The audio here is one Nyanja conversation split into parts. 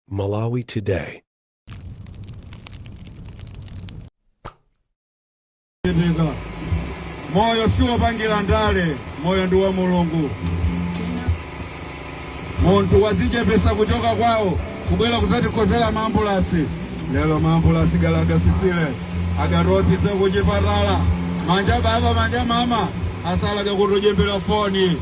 Malawi Today. Ndinga. moyo siwopangira ndale moyo ndi wa mulungu munthu wadzichepesa kuchoka kwawo kubwera kuzatikonzera maambulasi lero maambulasi galakasisile akarosise kuchipatala manja baba manja mama asalaga kutujimbira foni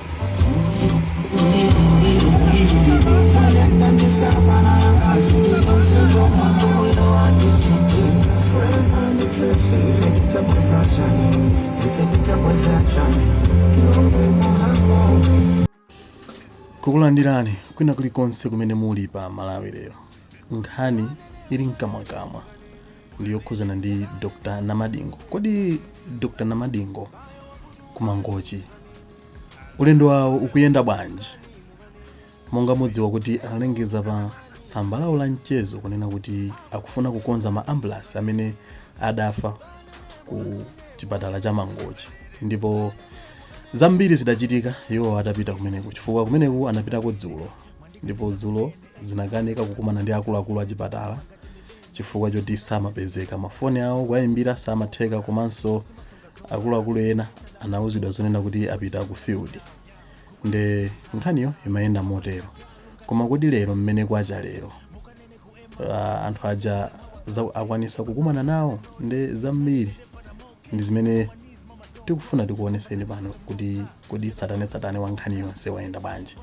kukulandirani kwina kulikonse kumene muli pa malawi lero nkhani ili mkamwakamwa ndi yokhuzana ndi dr namadingo kodi dr namadingo ku mangochi ulendo wawo ukuyenda bwanji monga mudziwa kuti analengeza pa tsamba lawo la mchezo kunena kuti akufuna kukonza ma ambulance amene adafa ku chipatala cha mangochi ndipo zambiri zidachitika iwo atapita kumeneko chifukwa kumeneko anapitako dzulo ndipo dzulo zinakanika kukumana ndi akuluakulu a chipatala chifukwa choti samapezeka. Mafoni awo kuwaimbira samatheka komanso akuluakulu ena anauzidwa zonena kuti apita ku field nde nkhaniyo imayenda motero koma kodi lero mmene kwacha lero ah, anthu aja za- akwanisa kukumana nawo nde zambiri ndi zimene tikufuna tikuoneseni pano kuti kodi tsatanetsatane wa nkhani yonse wayenda bwanji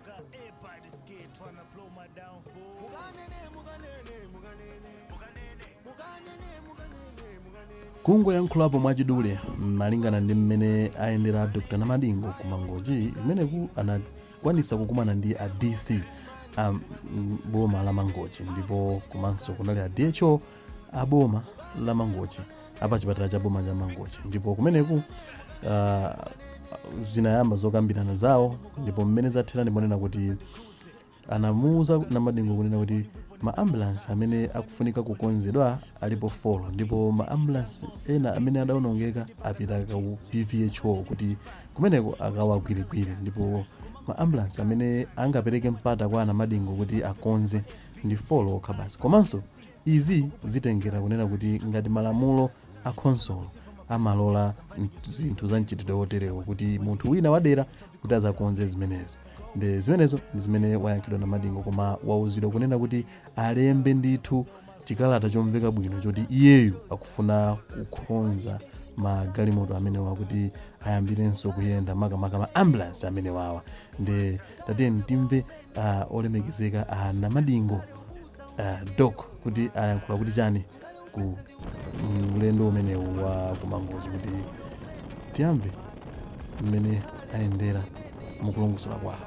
Got everybody scared, tryna blow my downfall. mukanene mukanene mukanene Mukanene. mukanene mukanene mukanene kungoyankhulapo mwachidule malingana ndi mmene ayendera dr namadingo ku mangochi kumeneku anakwanisa kukumana ndi a dc a mm, boma la mangochi ndipo komanso kunali a dho a boma la mangochi a pa chipatala cha boma cha mangochi ndipo kumeneku ah, zinayamba zokambirana zawo ndipo mmene zathera ndimonena kuti anamuuza namadingo kunena kuti ma ambulance amene akufunika kukonzedwa alipo 4 ndipo ma ambulance ena amene adaonongeka apita ku pvho kuti kumeneko akawagwirigwire ndipo ma ambulance amene angapereke mpata kwa a namadingo kuti akonze ndi 4 okha basi komanso Izi zitengera kunena kuti ngati malamulo a khonsolo amalola nt- zinthu za mchitidwe woterewo kuti munthu wina wadera kuti azakonze zimenezo nde zimenezo ndi zimene wayankhidwa Namadingo koma wauzidwa kunena kuti alembe ndithu chikalata chomveka bwino choti iyeyu akufuna kukhonza magalimoto amenewa kuti ayambirenso kuyenda makamaka ma ambulance amenewawa nde tatiyeni timve uh, olemekezeka a uh, namadingo uh, dok kuti ayankhula kuti chani ku mm, ulendo umenewu wa kumangochi kuti tiyamve mmene ayendera mukulongosola kwawo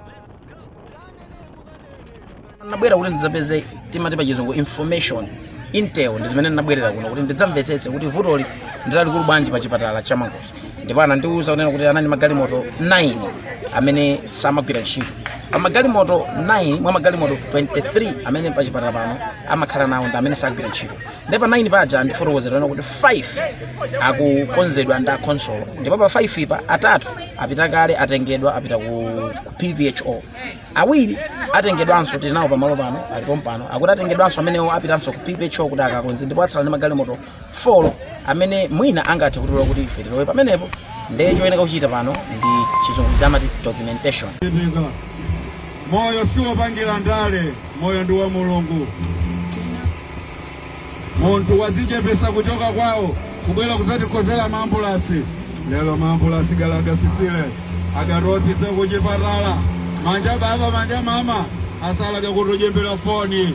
nabwera kuti ndidzapeze timati pa chizungu information intel ndi zimene nabwerera kuno kuti ndidzamvetsetse kuti vutoli ndilalikulu bwanji pa chipatala cha mangochi ndipo anandiwuza kunena kuti anali magalimoto 9 amene samagwira ntchito pa magalimoto 9 mwa magalimoto 23 amene pa chipatala pano amakhala nawo ndi amene sagwira ntchito ndipo pa 9 paja andifotokozera kuti 5 akukonzedwa ndi akhonsolo ndipo pa 5 po atatu apita kale atengedwa apita ku ku pvho awiri atengedwanso tili nawo pamalo pano alipo pompano akuti atengedwanso amenewo apitanso ku pvho kuti akakonze ndipo atsala ndi magalimoto folo amene mwina angathe kutilola kuti ife tilowe pamenepo ndiye choyenera kuchita pano ndi chizungu chamati documentation Ndinga. moyo si wopangira ndale moyo ndi wa mulungu munthu wadzichepesa kuchoka kwawo kubwera kudzatikhonzera maambulasi lero maambulasi galaga sisile agatosisye kuchipatala manja baba manja mama asalaga kutujimbila foni